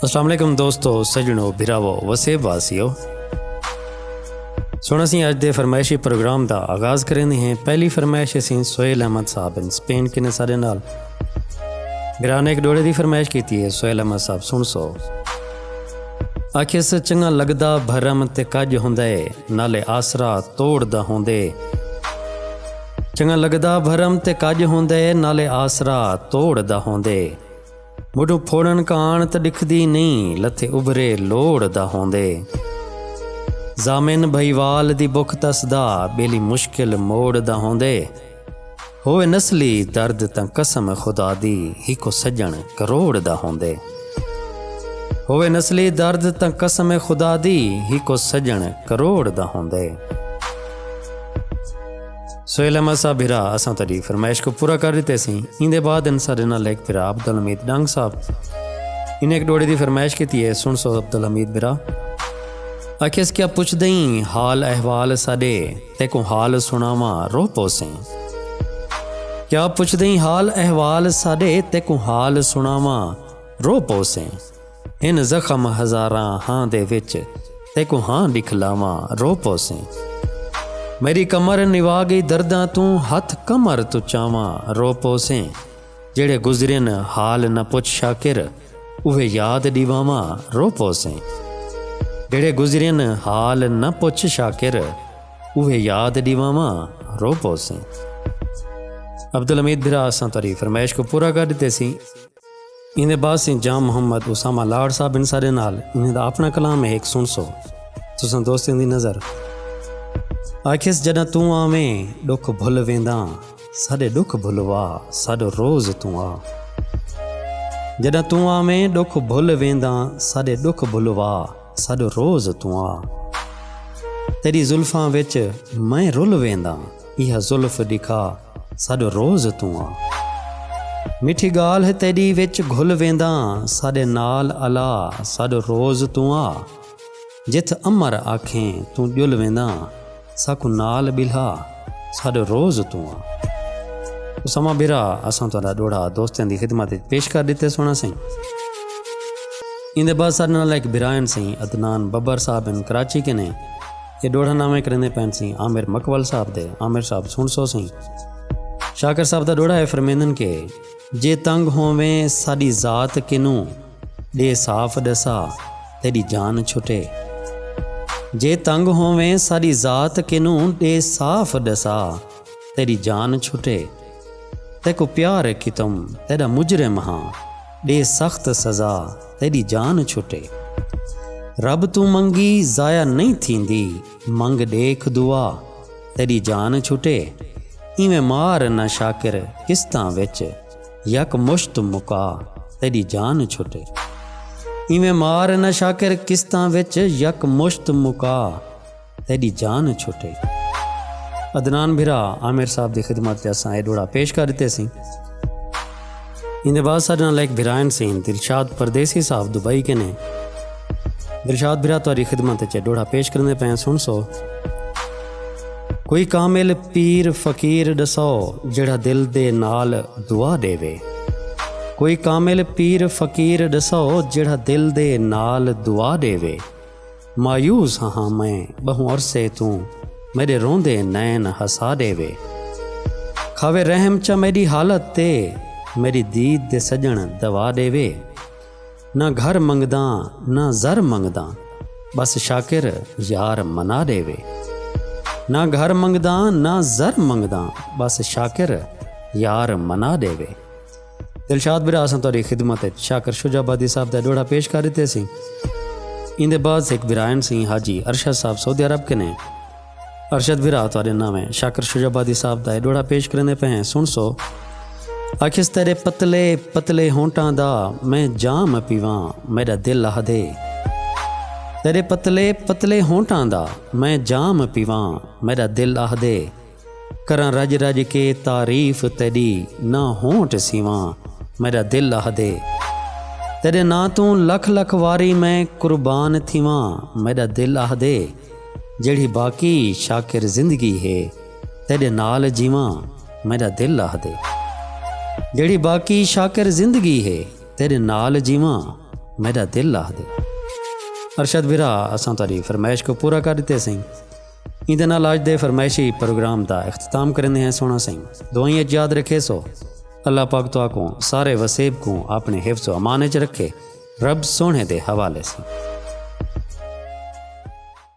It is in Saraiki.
السلام علیکم دوستو سجنو بھراو وسیب واسیو سونا سی اج دے فرمائشی پروگرام دا آغاز کریں ہیں پہلی فرمائش اسی سہیل احمد صاحب ان سپین کنے سارے نال میرا نے ایک ڈوڑے دی فرمائش کیتی ہے سہیل احمد صاحب سن سو آکھے سے چنگا لگدا بھرم تے کج ہوندے نالے آسرا توڑ دا ہوندے چنگا لگدا بھرم تے کڄ ہوندے نالے آسرا توڑ دا ہوندے مڈوں پھوڑن کاݨ ت ݙکھدی نئیں لتھے ابھرے لوڑ دا ہوندے ضامن بھئیوال دی بکھ تس دا ٻیلی مشکل موڑ دا ہوندے ہووے نسلی درد تاں قسم خدا دی ہیکو سڄݨ کروڑ دا ہوندے ہووے نسلی درد تاں قسم خدا دی ہیکو سڄݨ کروڑ دا ہوندے۔ سہیل احمد صاحب بھرا اساں تیری فرمائش کو پورا کر دیتے سی ان دے بعد ان سارے نال ایک بھرا عبد الحمید ڈنگ صاحب ان ایک ڈوڑے دی فرمائش کیتی ہے سن سو عبد الحمید بھرا اکھیس کیا پوچھ دئیں حال احوال ساڈے تے کو حال سناواں روح پوسیں کیا پوچھ دئیں حال احوال ساڈے تے کو حال سناواں روح پوسیں ہن زخم ہزاراں ہاں دے وچ تیکوں ہاں ݙکھلاواں رو پوسیں میݙی کمر نوا ڳئی درداں توں ہتھ کمر توں چاواں رو پوسیں جیڑھے گزرین حال نہ پچھ شاکر اوہے یاد ݙیواواں رو پوسیں جیڑھے گزرین حال نہ پچھ شاکر اوہے یاد ݙیواواں رو پوسیں عبدالحمید بھرا اساں تری فرمائش کو پورا کر ݙتے سی ایں دے بعد سیں جام محمد اسامہ لاڑ صاحب ان سارے نال انہیں دا اپنا کلام ہے ایک سن سو تساں دوستیں دی نظر آکھیس جڈاں توں آویں ڈکھ بھل وینداں ساڈے ڈکھ بھلوا ساڈو روز توں آ جڈاں توں آویں ڈکھ بھل وینداں ساڈے ڈکھ بھلوا ساڈو روز توں آ تیری زلفاں وچ میں رل وینداں یہ زلف دکھا ساڈو روز توں آں میٹھی گالھ تیڈی وچ گھل وینداں ساڈے نال الا ساڈو روز توں آ جتھ امر آکھیں توں جل وینداں ساکوں نال بلھا ساڈو روز توں آ اسامہ بھرا اساں تہاڈا ڈوڑا دوستاں دی خدمت وچ پیش کر دیتے سونا سائیں ایندے بعد سارے نال ایک برائن سیں عدنان ببر صاحب ان کراچی کے نے اے ݙوڑھا ناویں کریندے پئن سیں عامر مکول صاحب دے عامر صاحب سنڑسو سیں شاکر صاحب دا ݙوڑھا اے فرمیندن کہ جے تنگ ہوویں ساݙی ذات کنوں ݙے صاف ݙسا تیݙی جان چھٹے جے تنگ ہوویں ساݙی ذات کنوں ݙے صاف ݙسا تیݙی جان چھٹے تیکوں پیار اے کیتم تیݙا مجرم ہاں ݙے سخت سزا تیݙی جان چھٹے۔ رب توں منگی ضائع نئیں تھیندی منگ ݙیکھ دعا تیݙی جان چھٹے اینویں مار نہ شاکر قسطاں وچ یک مشت مکا تیݙی جان چھٹے اینویں مار نہ شاکر قسطاں وچ یک مشت مکا تیڈی جان چھٹے گی عدنان بھرا عامر صاحب دی خدمت تے اساں اے ڈوڑا پیش کر ڈتے سیں اندے بعد ساڈے نال ایک بھرائن سیں دلشاد پردیسی صاحب دبئی کے نے دلشاد بھرا تاری خدمت تے ڈوڑا پیش کرنے پے سن سو کوئی کامل پیر فقیر ڈسو جڑا دل دے نال دعا دے وے کوئی کامل پیر فقیر ڈسو جڑا دل دے نال دعا دے وے مایوس ہاں میں ٻہوں عرصے توں میݙے روندے نین ہسا ݙے وے کھاوے رحم چا میݙی حالت تے میݙی دید دے سڄݨ دوا ݙے وے نہ گھر منگداں نہ زر منگداں ٻس شاکر یار منا ݙے وے نہ گھر منگداں نہ زر منگداں ٻس شاکر یار منا ݙے وے۔ دلشاد برا اساں تہاڈی خدمت اچ شاکر شجا آبادی صاحب دا ڈوڑا پیش کر دیتے سی ایندے بعد سکھ برائن سی حاجی ارشد صاحب سعودی عرب کنے ارشد برا تہاڈے ناویں شاکر شجا آبادی صاحب دا ڈوڑا پیش کریندے پے ہیں سن سو آکھیس تیرے پتلے پتلے ہونٹاں دا میں جام پیواں میڈا دل لہ دے تیرے پتلے پتلے ہونٹاں دا میں جام پیواں میڈا دل لہ دے کراں رڄ رڄ کے تعریف تیݙی نہ ہونٹ سیواں میݙا دل آہدے تیݙے ناں توں لکھ لکھ واری میں قربان تھیواں میݙا دل آہدے جیڑھی باقی شاکر زندگی ہے تیݙے نال جیواں میݙا دل آہدے جیڑھی باقی شاکر زندگی ہے تیݙے نال جیواں میݙا دل آہدے ارشد بھرا اساں تہاݙی فرمائش کو پورا کر ݙتے سئیں ایندے نال آج دے فرمائشی پروگرام دا اختتام کریندے ہیں سونا سائیں دعائیں اچ یاد رکھے سو اللہ پاک تو آکوں سارے وسیب کوں اپنے حفظ و امان اچ رکھے رب سونے دے حوالے سے